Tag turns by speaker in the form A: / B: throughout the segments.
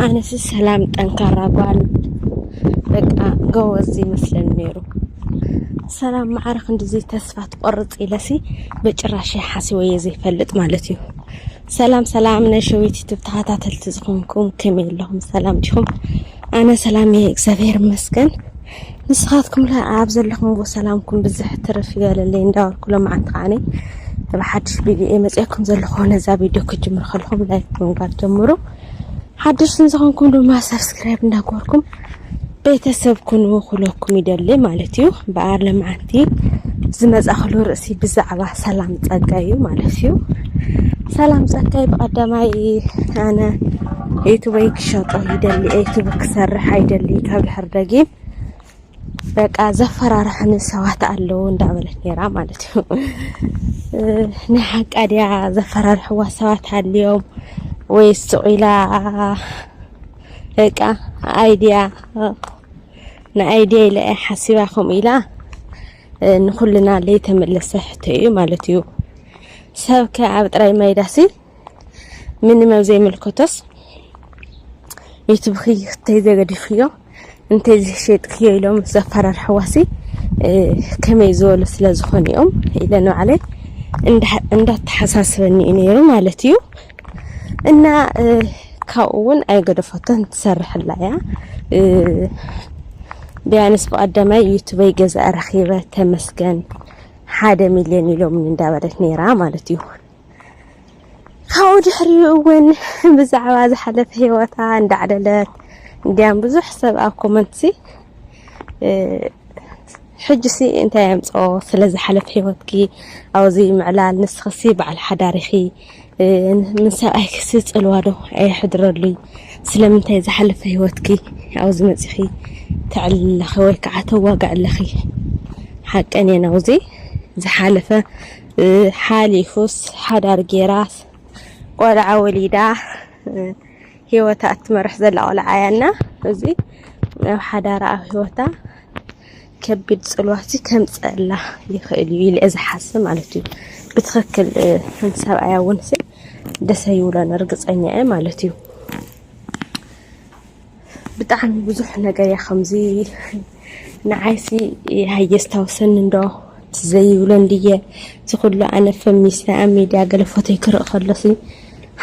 A: ኣነስ ሰላም ጠንካራ ጓል በቃ ጎበዝ ይመስለኒ ነይሩ። ሰላም ማዕረ ክንድዚ ተስፋ ትቆርፅ ኢለሲ ብጭራሽ ሓሲበዮ ዘይፈልጥ ማለት እዩ። ሰላም ሰላም ናይ ሸዊት ዩቱብ ተኸታተልቲ ዝኾንኩም ከመይ ኣለኹም? ሰላም ዲኹም? ኣነ ሰላም እየ እግዚኣብሔር ይመስገን። ንስኻትኩም ለ ኣብ ዘለኹምዎ ሰላምኩም ብዝሕ ትርፍ ይበለለይ እንዳበልኩ ሎማዓንቲ ከዓኒ ብሓድሽ ቪድዮ እየ መፅኤኩም ዘለኹ ነዛ ቪድዮ ክጅምሩ ከለኹም ላይክ ብምግባር ጀምሩ ሓድሽ ንዝኾንኩም ድማ ሰብስክራይብ እንዳገበርኩም ቤተሰብ ኩኑ ኩለኩም ይደሊ ማለት እዩ በኣር ለማዓንቲ እቲ ዝመጻኽሉ ርእሲ ብዛዕባ ሰላም ጸጋይ እዩ ማለት እዩ። ሰላም ጸጋይ ብቐዳማይ ኣነ ዩቱበይ ክሸጦ ይደሊ ዩቱብ ክሰርሕ ኣይደሊ ካብ ድሕር ደጊም በቃ ዘፈራርሐኒ ሰባት ኣለዉ እንዳበለት ነይራ ማለት እዩ። ናይ ሓቃ ድያ ዘፈራርሕዋ ሰባት ኣልዮም ወይስ ስቑኢላ በቃ ኣይድያ ንኣይድያ ኢለ እያ ሓሲባ ከምኡ ኢላ ንኩልና ለይተመለሰ ሕቶ እዩ ማለት እዩ ሰብ ከ ኣብ ጥራይ ማይዳሲ ምንም ኣብ ዘይምልከቶስ ዩቱብኺ ክተይ ዘገዲፍክዮ እንተይ ዝሸጥክዮ ኢሎም ዘፈራርሕዋሲ ከመይ ዝበሉ ስለ ዝኾኑ እዮም ኢለ ንባዕለይ እንዳተሓሳስበኒ እዩ ነይሩ ማለት እዩ እና ካብኡ እውን ኣይገደፈቶን ትሰርሕላ እያ ቢያንስ ብቀዳማይ ዩቱበይ ገዛ ረኪበ ተመስገን ሓደ ሚልዮን ኢሎም እንዳበለት ነይራ ማለት እዩ ካብኡ ድሕሪኡ እውን ብዛዕባ ዝሓለፈ ሂወታ እንዳዕለለት እንዲያም ብዙሕ ሰብ ኣብ ኮመንት ሲ ሕጂ ሲ እንታይ ኣምፅኦ ስለ ዝሓለፈ ሂወትኪ ኣብዚ ምዕላል ንስክሲ በዓል ሓዳሪኺ ምስ ሰብኣይክሲ ጽልዋ ዶ ኣየሕድረሉይ? ስለምንታይ ኣብ ዝሓለፈ ሂወትኪ ኣብዚ መጺኺ ተዕልሊ ኣለኺ ወይ ከዓ ተዋግዒ ኣለኺ? ሓቀን እየን ኣብዚ ዝሓለፈ ሓሊፉስ ሓዳር ጌራስ ቆልዓ ወሊዳ ሂወታ እትመርሕ ዘላ ቆልዓ እያ እና እዚ ኣብ ሓዳራ ኣብ ሂወታ ከቢድ ፅልዋቲ ከምፀእላ ይኽእል እዩ ኢለየ ዝሓስብ ማለት እዩ ብትኽክል ሓንቲ ሰብኣያ እውን ሲ ደሰ ይብሎን እርግፀኛ እየ ማለት እዩ ብጣዕሚ ብዙሕ ነገር እያ ከምዚ ንዓይሲ ሃየስታውሰኒ እንዶ ዘይብሎ እንድየ እቲ ኩሉ ኣነ ፈሚስና ኣብ ሚድያ ገለ ፎቶይ ክርኢ ከሎሲ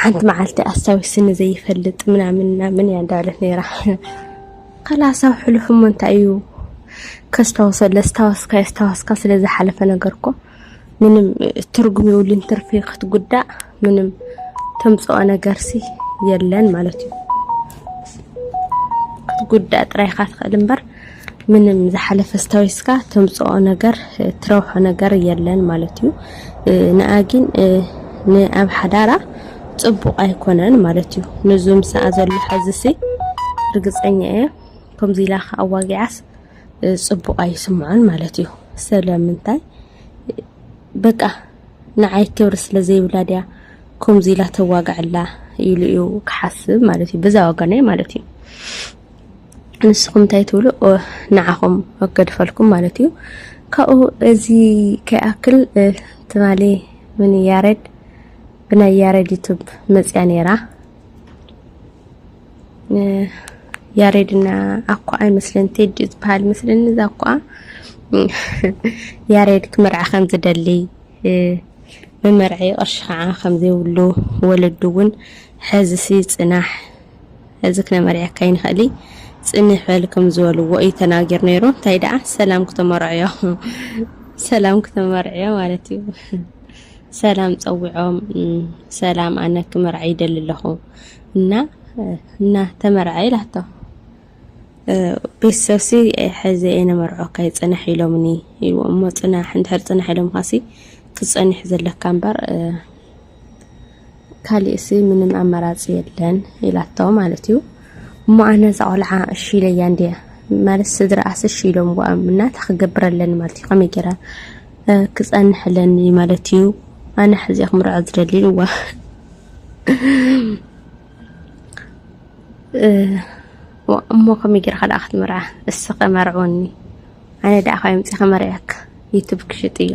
A: ሓንቲ መዓልቲ ኣስታዊስኒ ዘይፈልጥ ምናምን ምናምን እያ እንዳበለት ነይራ ከላስ ኣብ ሕሉፍ እሞ እንታይ እዩ ከስታወሶ ለስታወስካ የስታወስካ ስለ ዝሓለፈ ነገር እኮ ምንም ትርጉም የብሉን ትርፊ ክትጉዳእ ምንም ተምጽኦ ነገርሲ የለን ማለት እዩ ክትጉዳእ ጥራይካ ትኽእል እምበር ምንም ዝሓለፈ ስታዊስካ ተምጽኦ ነገር ትረብሖ ነገር የለን ማለት እዩ ንኣ ግን ንኣብ ሓዳራ ጽቡቕ ኣይኮነን ማለት እዩ ንዙ ምስኣ ዘሎ ሕዝሲ ርግጸኛ እየ ከምዚ ኢላ ከ ኣዋጊዓስ ጽቡቕ ኣይስምዖን ማለት እዩ ስለምንታይ በቃ ንዓይ ክብሪ ስለ ዘይብላ ድያ ከምዚ ኢላ ተዋግዐላ ኢሉ እዩ ክሓስብ ማለት እዩ በዛ ወገነይ ማለት እዩ ንስኹም እንታይ ትብሉ? ንዓኹም ገድፈልኩም ማለት እዩ። ካብኡ እዚ ከይኣክል ትማሊ ምን ያሬድ ብናይ ያሬድ ዩቱብ መፅያ ነይራ ያሬድና ኣኳ ኣይመስለን ቴዲ ዝበሃል መስለኒ እዛ ኣኳ ያሬድ ክምርዓ ከም ዝደሊ መመርዒ ቅርሺ ከዓ ከም ዘይብሉ ወለዱ እውን ሕዝሲ ፅናሕ እዚ ክነመርዕየካ ኣይንክእሊ ጽንሕ በል ከም ዝበልዎ እዩ ተናጊሩ ነይሩ። እንታይ ደኣ ሰላም ክተመርዕዮ ሰላም ክተመርዕዮ ማለት እዩ። ሰላም ጸዊዖም ሰላም ኣነ ክመርዓ ይደሊ ኣለኹ እና እና ተመርዓ ኢላቶ ቤተሰብሲ ሕዚ የነመርዖካ ይጽናሕ ኢሎምኒ ኢልዎ እሞ ጽናሕ እንድሕር ጽናሕ ኢሎምካሲ ክጸኒሕ ዘለካ እምበር ካሊእሲ ምንም ኣማራፂ የለን ኢላቶ ማለት እዩ እሞ ኣነ እዛ ቆልዓ እሺ ኢለያ እንድየ ማለት ስድራኣስ እሺ ኢሎምዋ እናታ ክገብር ኣለኒ ማለት እዩ ከመይ ገይረ ክፀንሕ ኣለኒ ማለት እዩ ኣነ ሕዚ ክምርዖ ዝደሊ ኢልዋ እሞ ከመይ ጌርካ ደኣ ክትምርዓ እስኸ መርዕወኒ ኣነ ደኣ ካብ ምፅእ ከመርዕየካ ዩቱብ ክሽጥ እዮ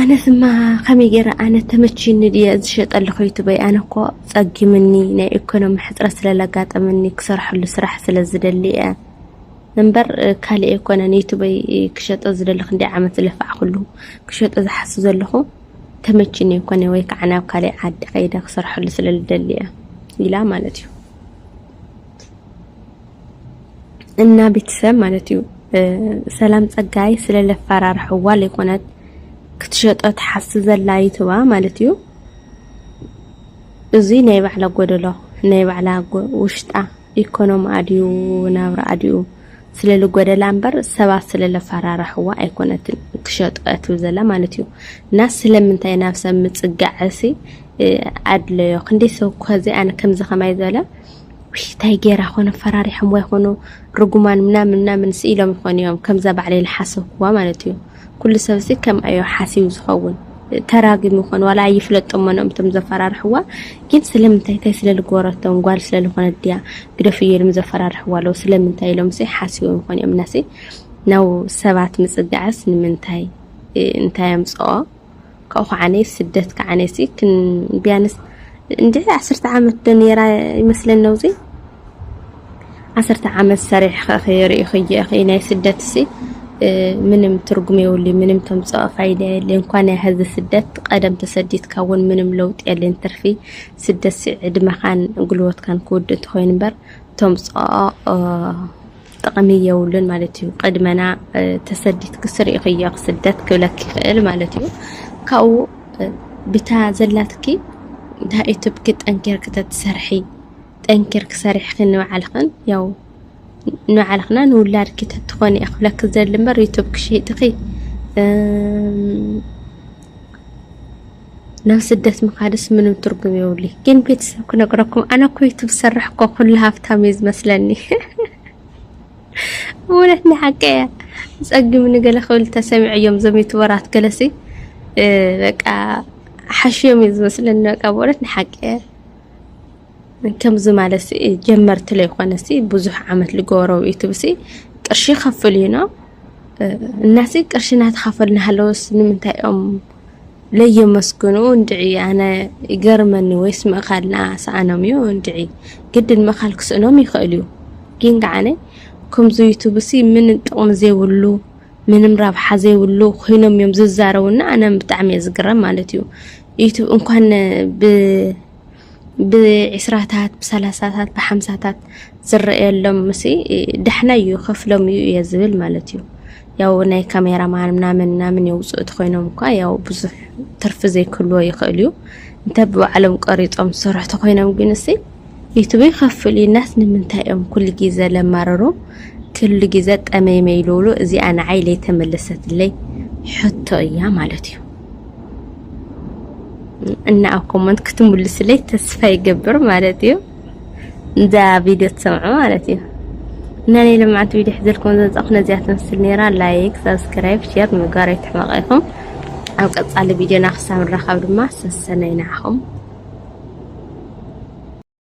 A: ኣነስማ ከመይ ገይረ ኣነ ተመችዩኒ ድየ ዝሸጠልኹ ዩቱበይ ኣነ እኮ ጸጊምኒ ናይ ኢኮኖሚ ሕጽረት ስለ ለጋጠመኒ ክሰርሐሉ ስራሕ ስለ ዝደሊ እየ እምበር ካልእ ኣይኮነን ዩቱበይ ክሸጦ ዝደሊ ክንደይ ዓመት ዝለፋዕኩሉ ክሸጦ ዝሓስብ ዘለኹ ተመችዩኒ ኣይኮነ ወይ ከዓ ናብ ካልእ ዓዲ ከይደ ክሰርሐሉ ስለ ዝደሊ እየ ኢላ ማለት እዩ እና ቤተሰብ ማለት እዩ ሰላም ጸጋይ ስለ ለፈራርሕዋ ዘይኮነት ክትሸጦ ትሓስብ ዘላ ይትባ ማለት እዩ እዚ ናይ ባዕላ ጎደሎ ናይ ባዕላ ውሽጣ ኢኮኖሚ ኣድዩ ናብራ ኣድዩ ስለ ልጎደላ እምበር ሰባት ስለ ለፈራርሕዋ ኣይኮነትን ክሸጦ እትብል ዘላ ማለት እዩ እና ስለምንታይ ናብ ሰብ ምጽጋዕሲ ኣድለዮ ክንደይ ሰብ ከዚ ኣነ ከምዚ ከማይ ዘለ ውይ ታይ ገይራ ኮን ኣፈራሪሖምዋ ይኮኑ ርጉማን ምናምን ምናምን ሲ ኢሎም ይኮኑ እዮም ከምዛ ባዕለይ ልሓሰብኩዋ ማለት እዩ ኩሉ ሰብ ሲ ከምኣ እዩ ሓሲቡ ዝኸውን ተራጊሙ ይኮን ዋላ ኣይፍለጦም መኖም እቶም ዘፈራርሕዋ ግን ስለምንታይ እንታይ ስለ ዝገበረቶም ጓል ስለ ዝኾነት ድያ ግደፍ እዩ ኢሎም ዘፈራርሕዋ ኣለዉ ስለምንታይ ኢሎም ሲ ሓሲቦም ይኾኑ እዮም እናሲ ናብ ሰባት ምፅጋዕስ ንምንታይ እንታይ ኣምፅኦ ካብኡ ከዓኒ ስደት ከዓኒሲ ቢያንስ እንድዒ ዓሰርተ ዓመት ዶ ነይራ ይመስለኒ ነውዚ ዓሰርተ ዓመት ሰሪሕኺ ርኢኽዮ ኢኺ ናይ ስደትሲ ምንም ትርጉም የብሉ ምንም ተምፅኦ ፋይዳ የለ እንኳን ያህዚ ስደት ቀደም ተሰዲትካ እውን ምንም ለውጢ የለን ትርፊ ስደትሲ ዕድመኻን ጉልበትካን ክውድእ እንተኾይኑ እምበር ተምፅኦ ጥቅሚ የብሉን ማለት እዩ ቅድመና ተሰዲትኪ ስሪኢክዮ ክስደት ክብለኪ ይክእል ማለት እዩ ካብኡ ብታ ዘላትኪ ዳ ኢትብኪ ጠንኪርኪ ተትሰርሒ ጠንኪርኪ ሰሪሕኪ ንባዕልክን ያው ንባዕልክና ንውላድኪ ተትኮኒ እየ ክብለኪ ዝደሊ እምበር ዩቱብኪ ሸይጥኪ ናብ ስደት ምኻድስ ምንም ትርጉም የብሉይ ግን ቤተሰብ ክነግረኩም ኣነ እኮ ዩቱብ ዝሰርሕ እኮ ኩሉ ሃብታም እዩ ዝመስለኒ እውነት ናይ ሓቂ እያ ፀጊሙ ንገለ ክብል ተሰሚዐዮም ዞም ዩቱበራት ገለሲ በቃ ሓሽዮም እዩ ዝመስለኒ በቃ ብእውነት ናይ ሓቂ እያ ከምዚ ማለት ጀመርቲ ለይኮነሲ ብዙሕ ዓመት ልገበረው ዩቱብሲ ቅርሺ ከፍል እዩ ነው እናዚ ቅርሺ እናተኸፈሉ ናሃለውስ ንምንታይ እዮም ለየመስግኑ እንድዒ ኣነ ይገርመኒ ወይስ ምእኻልና ሰኣኖም እዩ እንድዒ ግድን ምእኻል ክስእኖም ይኽእል እዩ ግን ከዓነ ከምዚ ዩቱብሲ ምንም ጥቕሚ ዘይብሉ ምንም ረብሓ ዘይብሉ ኮይኖም እዮም ዝዛረቡና ኣነ ብጣዕሚ እየ ዝግረም ማለት እዩ ዩቱብ እንኳን ብ ብዒስራታት ብሳላሳታት ብሓምሳታት ዝረኣየሎም ምስ ዳሕናይ እዩ ከፍሎም እዩ እየ ዝብል ማለት እዩ ያው ናይ ካሜራ ማን ምናምን ምናምን የውፅኡ ተኮይኖም እኳ ያው ብዙሕ ትርፊ ዘይክልዎ ይኽእል እዩ እንተ ብባዕሎም ቀሪፆም ዝሰርሑ ተኮይኖም ግን እሲ ዩቱብ ይኸፍል እዩ ናት ንምንታይ እዮም ኩሉ ግዜ ለማርሩ ክሉ ግዜ ጠመይመይ ልብሉ እዚኣ ንዓይ ለይተመለሰትለይ ሕቶ እያ ማለት እዩ እና ኣብ ኮመንት ክትምልስለይ ተስፋ ይገብር ማለት እዩ እንዛ ቪድዮ ትሰምዑ ማለት እዩ እና ናይ ልምዓት ቪድዮ ሕዘልኩም ዘምፃኹ ነዚያ ትመስል ነይራ ላይክ ሳብስክራይብ ሼር ምግባር ኣይትሕመቑ ኢኹም ኣብ ቀፃሊ ቪድዮና ክሳብ ንራኸብ ድማ ሰሰነይ ንዓኹም